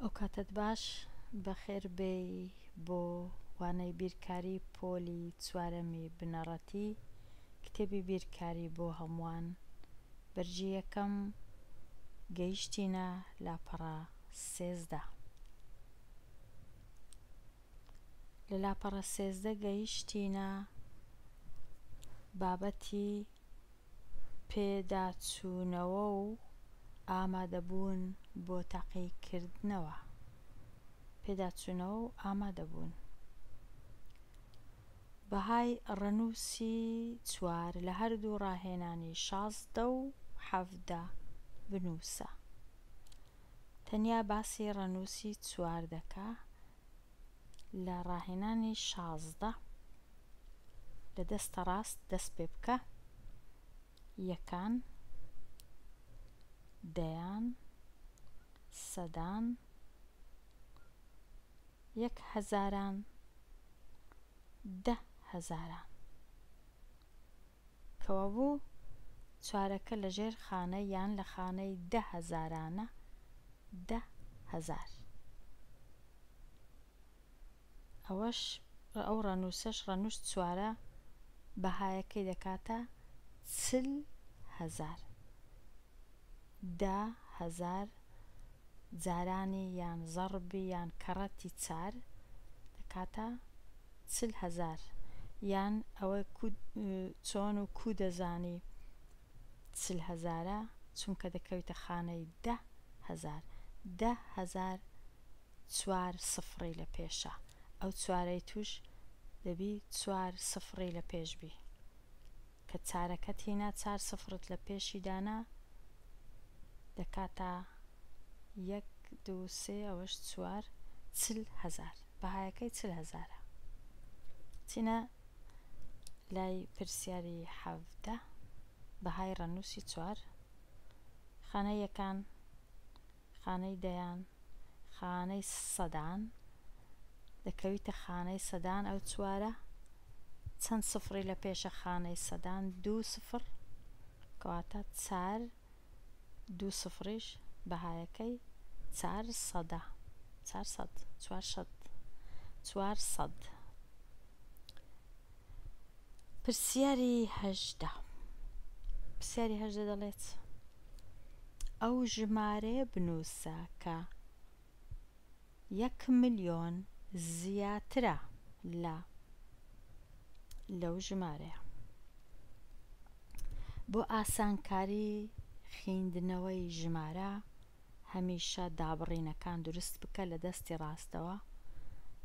ئەوکاتەت باش بەخێر بێی بۆ وانەی بیرکاری پۆلی چوارەمی بنەڕەتی کتێبی بیرکاری بۆ هەمووان بەرگی یەکەم گەیشتینە لاپەڕە سێزدە لە لاپەڕە سێزدە گەیشتینە بابەتی پێداچوونەوە و ئامادەبوون بۆ تاقیکردنەوە پێداچوونەوە و ئامادەبوون بەهای ڕەنووسی چوار لە هەردوو ڕاهێنانی شازدە و حەڤدە بنووسە تەنیا باسی ڕەنووسی چوار دەکا لە ڕاهێنانی شازدە لە دەستە ڕاست دەست پێ بکە یەکان دەیان سەدان یەک هەزاران دە هەزاران کەوابوو چارەکە لە ژێر خانە یان لە خانەی دە هەزارانە دە هەزار. ئەوەش ئەو ڕەنووسەش ڕەنووس چوارە بەهایەکەی دەکاتە چل هەزار. دە هەزار جارانی یان زەڕبی یان کەڕەتی چار دەکاتە چل هەزار یان ئەوە کو چۆن و کو دەزانی چل هەزارە چونکە دەکەویتە خانەی دە هەزار دە هەزار چوار سفڕی لە پێشە ئەو چوارەی توش دەبی چوار سفڕی لە پێش بی. کە چارەکەت هینا چار سفرت لە پێشی دانا دەکاتە یەک دوو سێ ئەوەش چوار چل هەزار بەهایەکەی چل هەزارە چینە لای پرسیاری حەڤدە بەهای ڕەنووسی چوار خانە یەکان خانەی دەیان، خانەی سەدان، دەکەویتە خانەی سەدان ئەو چوارە چەند سفڕی لە پێشە خانەی سەدان دوو سفڕ کەواتە چار دوو سفڕیش بەهایەکەی چار سەدە چار سەد چوار سەد چوار سەد پرسیاری هەژدە پرسیاری هەژدە دەڵێت ئەو ژمارەیە بنووسە کە یەک ملیۆن زیاترە لە لەو ژمارەیە بۆ ئاسانکاری خیندنەوەی ژمارە هەمیشە دابڕینەکان دروست بکە لە دەستی ڕاستەوە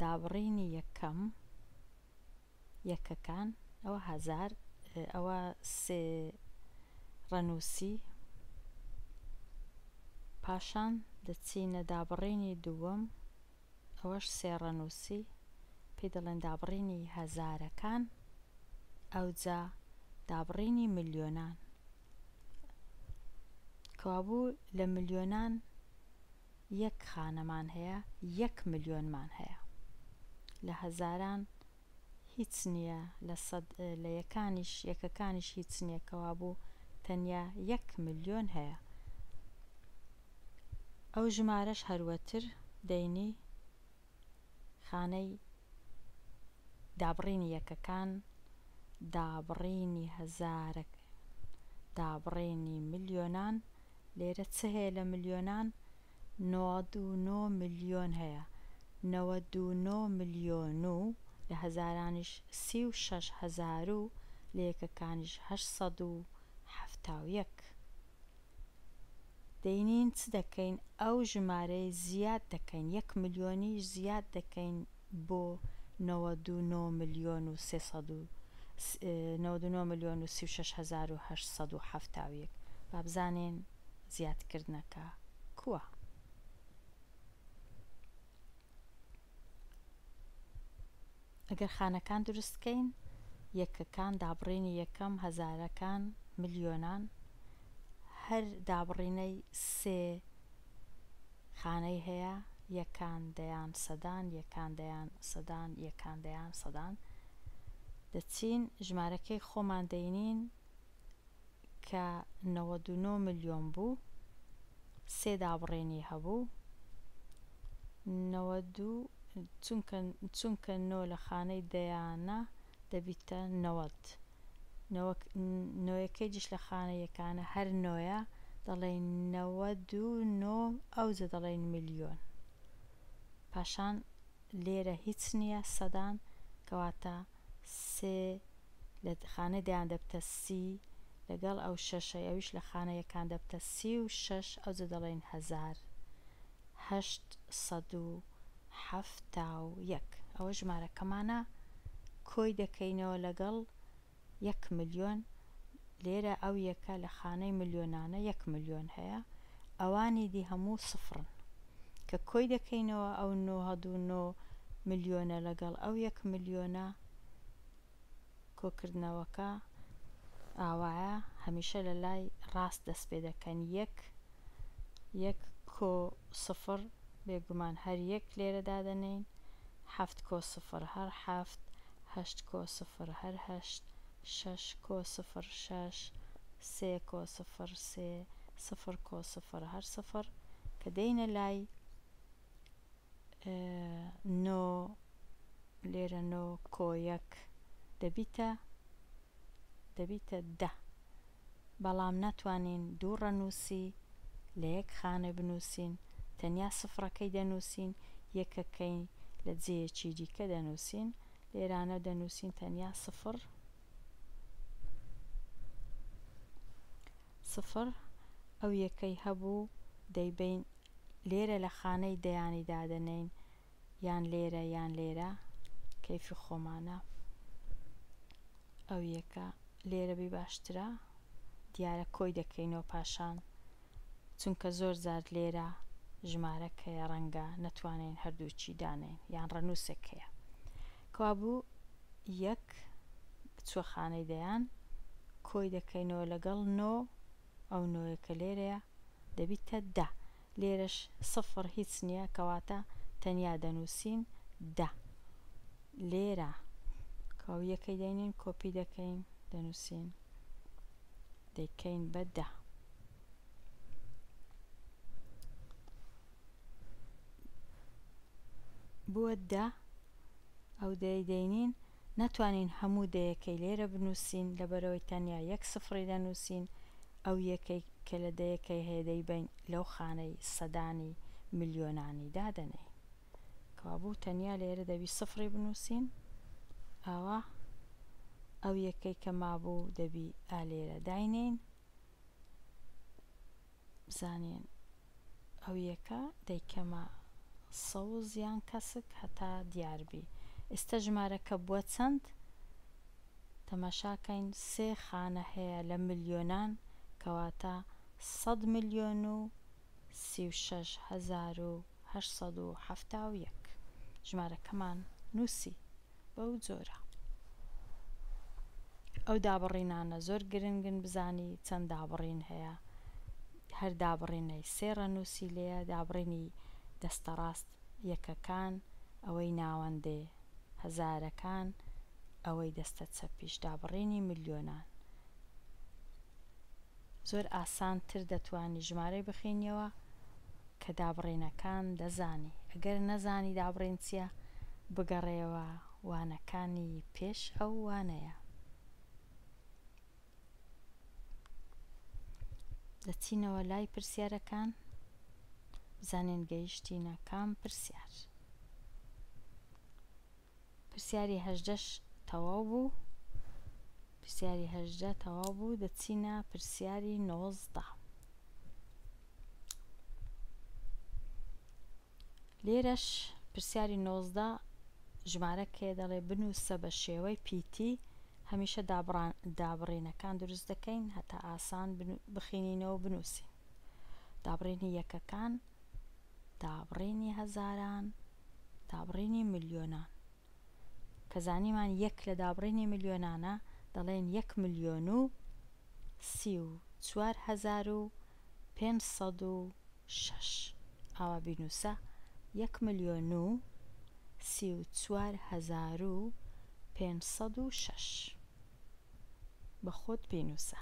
دابڕینی یەکەم یەکەکان ئەوە هەزار ئەوە سێ ڕەنووسی پاشان دەچینە دابڕینی دووەم ئەوەش سێ ڕەنووسی پێی دەڵێن دابڕینی هەزارەکان ئەوجا دابڕینی ملیۆنان کەوابوو لە ملیۆنان یەک خانەمان هەیە یەک ملیۆنمان هەیە لە هەزاران هیچ نییە لە سەد لە یەکانیش یەکەکانیش هیچ نییە کەوابوو تەنیا یەک ملیۆن هەیە ئەو ژمارەش هەروەتر دەینی خانەی دابڕینی یەکەکان دابڕینی هەزارە دابڕینی ملیۆنان لێرە چ هەیە لە ملیۆنان نۆەد و نۆ ملیۆن هەیە نەوەد و نۆ ملیۆن و لە هەزارانیش سی و شەش هەزار و لە یەکەکانیش هەشت سەد و حەفتا و یەک دەینین چ دەکەین ئەو ژمارەی زیاد دەکەین یەک ملیۆنیش زیاد دەکەین بۆ نەوەد و نۆ ملیۆن و سێ سەد و نەوەد و نۆ ملیۆن و سی و شەش هەزار و هەشت سەد و حەفتا و یەک با بزانین زیادکردنەکە کووە؟ ئەگەر خانەکان دروست بکەین یەکەکان دابڕینی یەکەم هەزارەکان ملیۆنان هەر دابڕینەی سێ خانەی هەیە یەکان دەیان سەدان یەکان دەیان سەدان یەکان دەیان سەدان دەچین ژمارەکەی خۆمان دەینین کە نەوەد و نۆ ملیۆن بوو سێ دابڕێنی هەبوو نەوەد و چونکە چونکە نۆ لە خانەی دەیانە دەبیتە نەوەد نۆیەکەیجش لە خانە یەکانە هەر نۆیە دەڵێین نەوەد و نۆ ئەوجە دەڵێین ملیۆن پاشان لێرە هیچ نییە سەدان کەواتە سێ لە خانەی دەیان دەبتە سی لەگەڵ ئەو شەشەی ئەویش لە خانە یەکان دەبتە سی و شەش ئەوجە دەڵێین هەزار هەشت سەد و حەفتا و یەک، ئەوە ژمارەکەمانە کۆی دەکەینەوە لەگەڵ یەک ملیۆن، لێرە ئەو یەکە لە خانەی ملیۆنانە یەک ملیۆن هەیە، ئەوانی دی هەموو سفرن. کە کۆی دەکەینەوە ئەو نۆ هەد و نۆ ملیۆنە لەگەڵ ئەو یەک ملیۆنە، کۆکردنەوەکە ئاوایە هەمیشە لە لای ڕاست دەست پێ دەکەن یەک یەک کۆ سفڕ بێگومان هەر یەک لێرە دادەنێین حەفت کۆ سفڕ هەر حەفت هەشت کۆ سفڕ هەر هەشت شەش کۆ سفڕ شەش سێ کۆ سفڕ سێ سفڕ کۆ سفڕ هەر سفڕ کە دێینە لای نۆ لێرە نۆ کۆیەک دەبیتە دەبیتە دە بەڵام ناتوانین دوو ڕەنووسی لە یەک خانە بنووسین تەنیا سفرەکەی دەنووسین یەکەکەی لە جێیەکی دیکە دەنووسین لێرانە دەنووسین تەنیا سفر سفر ئەو یەکەی هەبوو دەیبەین لێرە لە خانەی دەیانی دادەنێین یان لێرە یان لێرە کەیفی خۆمانە ئەو یەکە لێرە بی باشترە دیارە کۆی دەکەینەوە پاشان چونکە زۆر جار لێرە ژمارەک هەیە ڕەنگە نەتوانین هەردووچی دانێین یان ڕەنووسێک هەیە کەوابوو یەک بچووە خانەی دەیان، کۆی دەکەینەوە لەگەڵ نۆ، ئەو نۆیە کە لێرەیە دەبیتە دە. لێرەش سفر هیچ نییە، کەواتە تەنیا دەنووسین دە. لێرە کەوابوو یەکەی دەینین، کۆپی دەکەین، دەنووسین دەیکەین بە دە. بووە دە. ئەو دەیەی دەینین ناتوانین هەموو دەیەکەی لێرە بنووسین لەبەرئەوەی تەنیا یەک سفری دەنووسین، ئەو یەکەی کە لە دەیەکەی هەیە دەیبەین لەو خانەی سەدانی ملیۆنانی دادەنێین. کەوابوو تەنیا لێرە دەبی سفری بنووسین، ئەوا ئەو یەکەی کە مابوو دەبی ئا لێرە داینێین، بزانین ئەو یەکە دەیکەمە سەوز یان کەسک هەتا دیاربی ئیستە ژمارەکە بوە چەند تەماشاکەین سێ خانە هەیە لە ملیۆنان کەواتە سەد ملیۆن و سی و شەش هەزار و هەشت سەد و حەفتا و یەک ژمارەکەمان نوسی بەو جۆرە ئەو دابڕینانە زۆر گرنگن بزانی چەند دابڕین هەیە هەر دابڕینەی سێ ڕەنووسی لێیە دابڕینی دەستە ڕاست یەکەکان ئەوەی ناوەندێ هەزارەکان ئەوەی دەستە چەپیش دابڕینی ملیۆنان. زۆر ئاسان تر دەتوانی ژمارەی بخینیەوە کە دابڕینەکان دەزانی ئەگەر نەزانی دابڕین چیە بگەڕێیەوە وانەکانی پێش ئەو وانەیە. دەچینەوە لای پرسیارەکان بزانین گەیشتینە کام پرسیار. پرسیاری هەژدەش تەواو بوو. پرسیاری هەژدە تەواو بوو دەچینە پرسیاری نۆزدە. لێرەش پرسیاری نۆزدە ژمارە کێ دەڵێ بنووسە بە شێوەی پیتی هەمیشە دابڕینەکان دروست دەکەین هەتا ئاسان بخینینەوە بنووسین دابڕینی یەکەکان دابڕینی هەزاران دابڕینی ملیۆنان کە زانیمان یەک لە دابڕینی ملیۆنانە دەڵێن یەک ملیۆن و سی و چوار هەزار و پێنج سەد و شەش ئاوا بینووسە یەک ملیۆن و سی و چوار هەزار و پێنج سەد و شەش بە خۆت بینووسە.